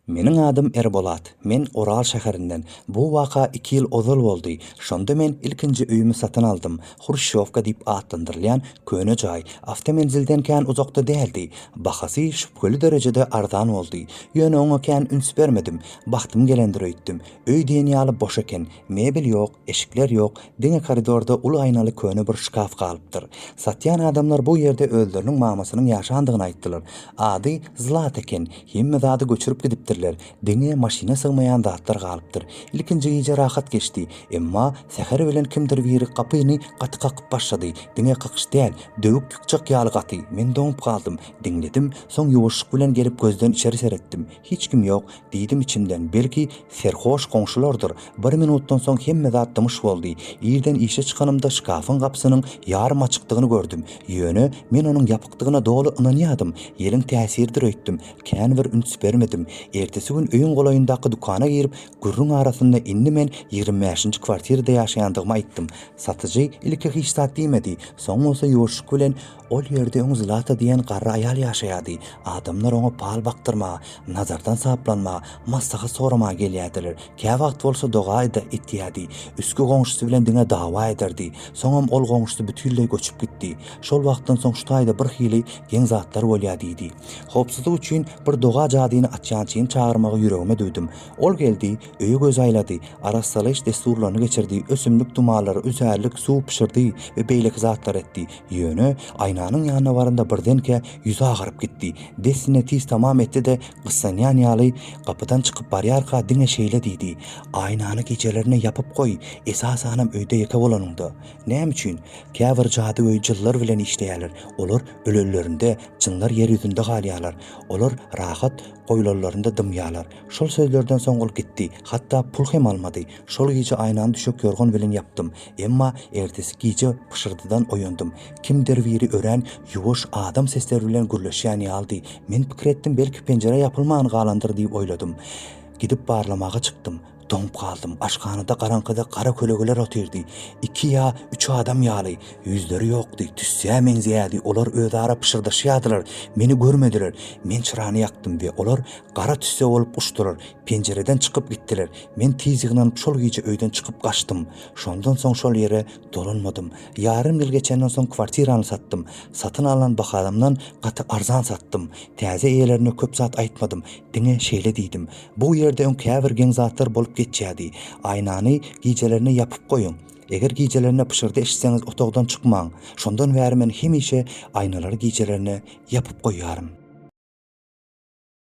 Meniň adym Erbolat. Men Oral şäherinden. Bu waka iki ýyl ozal boldy. Şonda men ilkinji öýümi satyn aldym. Hruşşýowka diýip atlandyrylýan köne jaý awtomenzilden kän uzakda däldi. Bahasy şübheli derejede arzan boldy. Ýöne oňa kän üns bermedim. Bagtym gelendir öýtdüm. Öý diýen ýaly boş eken. Mebel ýok. Eşikler ýok, diňe koridorda uly aýnaly köne bir şkaf galypdyr. Satýan adamlar bu ýerde özleriniň mamasynyň ýaşandygyny aýtdylar. Ady Zlata eken, hemme zady göçürip gidipdirler, diňe maşyna sygmaýan zatlar galypdyr. Ilkinji gije rahat geçdi, emma säher bilen kimdir biri gapyny gaty kakyp başlady, diňe kakyş däl, döwük ýykjak ýaly gaty, men doňup galdym, diňledim, soň ýuwaşlyk bilen gelip gözden içeri seretdim, Hiç kim ýok, diýdim içimden, belki, serhoş goňşulardyr. Bir minutdan soň hemme zat dymyş boldy. Irden işe çykanymda şkafyň gapysynyň ýarym açykdygyny gördüm. Ýöne, men onuň ýapykdygyna doly ynanýardym. Ýeliň täsiridir öýtdüm. Kän bir üns bermedim. Ertesi gün öýüň golaýyndaky dükana girip, gürrüň arasynda indi men ýigrimi bäşinji kwartirada ýaşaýandygymy aýtdym. Satyjy ilki hiç zat diýmedi, soň bolsa ýuwaşlyk bilen, Ol ýerde öň Zlata diýen garry aýal ýaşaýardy. Adamlar oňa pal bakdyrmaga, nazardan saplanmaga, maslahat soramaga gelýärdiler. Käwagt bolsa doga-da etýärdi. Üstki goňşusy bilen diňe dawa ederdi. Soňam ol goňşusy bütinleý göçüp gitdi. Şol wagtdan soň şu taýda birhili geň zatlar bolýar diýdi. Howpsuzlyk üçin bir doga jadyny açýan çyn çagyrmagy ýüregime düwdüm. Ol geldi, öýe göz aýlady, arassalaýyş dessurlaryny geçirdi, ösümlik dumallary, üzärlik, suw bişirdi we beýleki zatlar etdi. Ýöne, aýnanyň ýanyna baranda birdenkä ýüzi agaryp gitdi. Dessine tiz tamam etdi-de, gyssanýan ýaly, gapydan çykyp barýarka diňe şeýle diýdi, Aýnany gijelerine ýapyp goý, esasanam öýde ýeke bolanyňda. Näme üçin? Käbir jadygöý jynlar bilen işleýärler. Olar ölenlerinde, jynlar ýer ýüzünde galýarlar. Olar rahat, goýlanlarynda dymýarlar. Şol sözlerden soň ol gitdi. Hatda pul hem almady. Şol gije aýnany düşek ýorgan bilen ýapdym. Emma ertesi gije pyşyrdydan oýandym. Kimdir biri örän ýuwaş adam sesleri bilen gürleşýän ýalydy. Men pikir etdim, belki penjire ýapylman galandyr diýip oýladym. Gidip barlamaga çykdym. Doňup galdym. Aşhanada garaňkyda gara kölegeler otyrdy. Iki ýa üç adam ýaly. Ýüzleri ýokdy. Tüssä meňzeýärdi. Olar özara pyşyrdaşýardylar. Meni görmediler. Men çyrany ýakdym we olar gara tüsse bolup uçdular. Penjireden çykyp gitdiler. Men tiz ýygnanyp şol gije öýden çykyp gaçdym. Şondan soň şol ýere dolanmadym. Ýarym ýyl geçenden soň kwartirany satdym. Satyn alan bahamdan gaty arzan satdym. Täze eýelerine köp zat aýtmadym. Diňe şeýle diýdim. Bu ýerde öň käbir geň zatlar bolup geçýärdi. Aýnany gijelerine ýapyp goýuň. Eger gijelerine pyşyrdy eşitseňiz otagdan çykmaň. Şondan bäri men hemişe aýnalary gijelerine ýapyp goýýaryn.